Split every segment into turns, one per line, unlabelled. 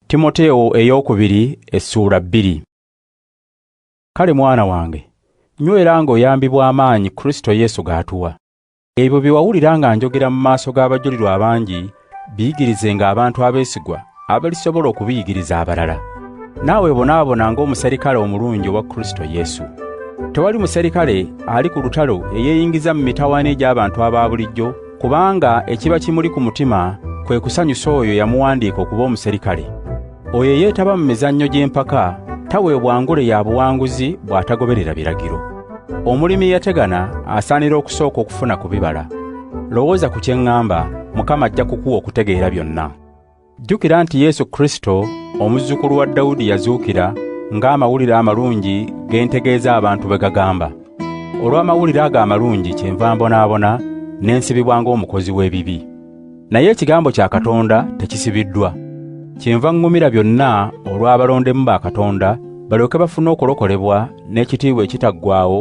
Timoteewo ey'okubiri essuula bbiri. Kale mwana wange, nywera ng'oyambibwa amaanyi Kristo Yesu g'atuwa. Ebyo bye wawulira nga njogera mu maaso g'abajulirwa abangi, biyigirizenga abantu abeesigwa abalisobola okubiyigiriza abalala. Naawe bonaabona ng'omuserikale omulungi owa Kristo Yesu. Tewali muserikale ali ku lutalo eyeeyingiza mu mitawaana egy'abantu aba bulijjo, kubanga ekiba kimuli ku mutima kwe kusanyusa oyo yamuwandiika okuba omuserikale. Oyo eyeetaba mu mizannyo gy'empaka taweebwa ngule ya buwanguzi bw'atagoberera biragiro. Omulimi eyategana asaanira okusooka okufuna ku bibala. Lowooza ku kye ŋŋamba, Mukama ajja kukuwa okutegeera byonna. Jjukira nti Yesu Kristo, omuzzukulu wa Dawudi yazuukira ng'amawulire amalungi ge ntegeeza abantu bwe gagamba. Olw'amawulire ago amalungi kyenva mbonaabona ne nsibibwa ng'omukozi w'ebibi. Naye ekigambo kya Katonda tekisibiddwa. Kyenva ŋŋumira byonna olw'abalondemu ba Katonda, balyoke bafune okulokolebwa n'ekitiibwa ekitaggwaawo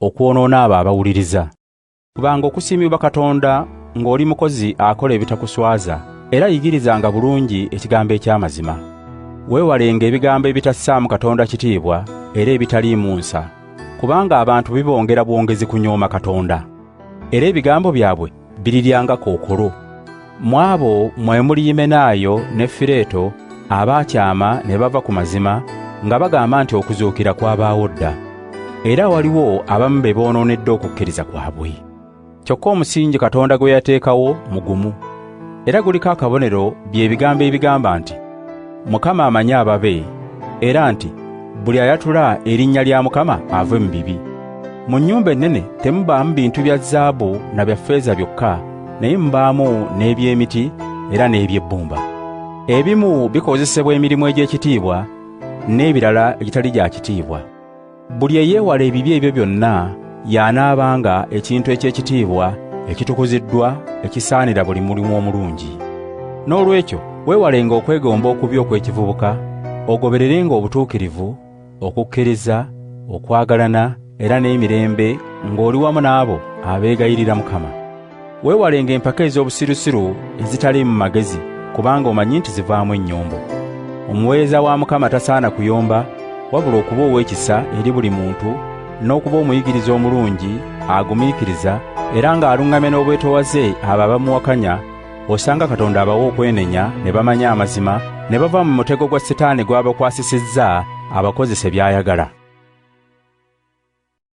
okwonoona abo abawuliriza. Fubanga okusiimibwa Katonda ng'oli mukozi akola ebitakuswaza, era yigirizanga bulungi ekigambo eky'amazima. Weewalenga ebigambo ebitassaamu Katonda kitiibwa era ebitaliimu nsa, kubanga abantu bibongera bwongezi kunyooma Katonda, era ebigambo byabwe birirya nga kookolo. Mu abo mwe muli Yimenaayo ne Fireeto abaakyama ne bava ku mazima nga bagamba nti okuzuukira kwabaawo dda, era waliwo abamu be boonoonedde okukkiriza kwabwe. Kyokka omusingi Katonda gwe yateekawo mugumu, era guliko akabonero bye bigambo ebigamba nti, mukama amanyi ababe era nti buli ayatula erinnya lya mukama ave mu bibi mu nnyumba ennene temubaamu bintu bya zaabu na bya ffeeza byokka naye mubaamu n'eby'emiti era n'eby'ebbumba ebimu bikozesebwa emirimu egy'ekitiibwa n'ebirala egitali gya kitiibwa Buli eyeewala ebibi ebyo byonna y'anaabanga ekintu eky'ekitiibwa ekitukuziddwa ekisaanira buli mulimu omulungi. N'olwekyo weewalenga okwegomba okubi okw'ekivubuka, ogobererenga obutuukirivu, okukkiriza, okwagalana era n'emirembe ng'oli wamu n'abo abeegayirira Mukama. Weewalenga empaka ez'obusirusiru ezitaliimu magezi kubanga omanyi nti zivaamu ennyombo. Omuweereza wa Mukama tasaana kuyomba wabula okuba ow'ekisa eri buli muntu n'okuba omuyigiriza omulungi agumiikiriza era ng'aluŋŋamya n'obwetowaze abo abamuwakanya, osanga Katonda abawa okwenenya ne bamanya amazima ne bava mu mutego gwa Setaani gw'abakwasisizza abakozese by'ayagala.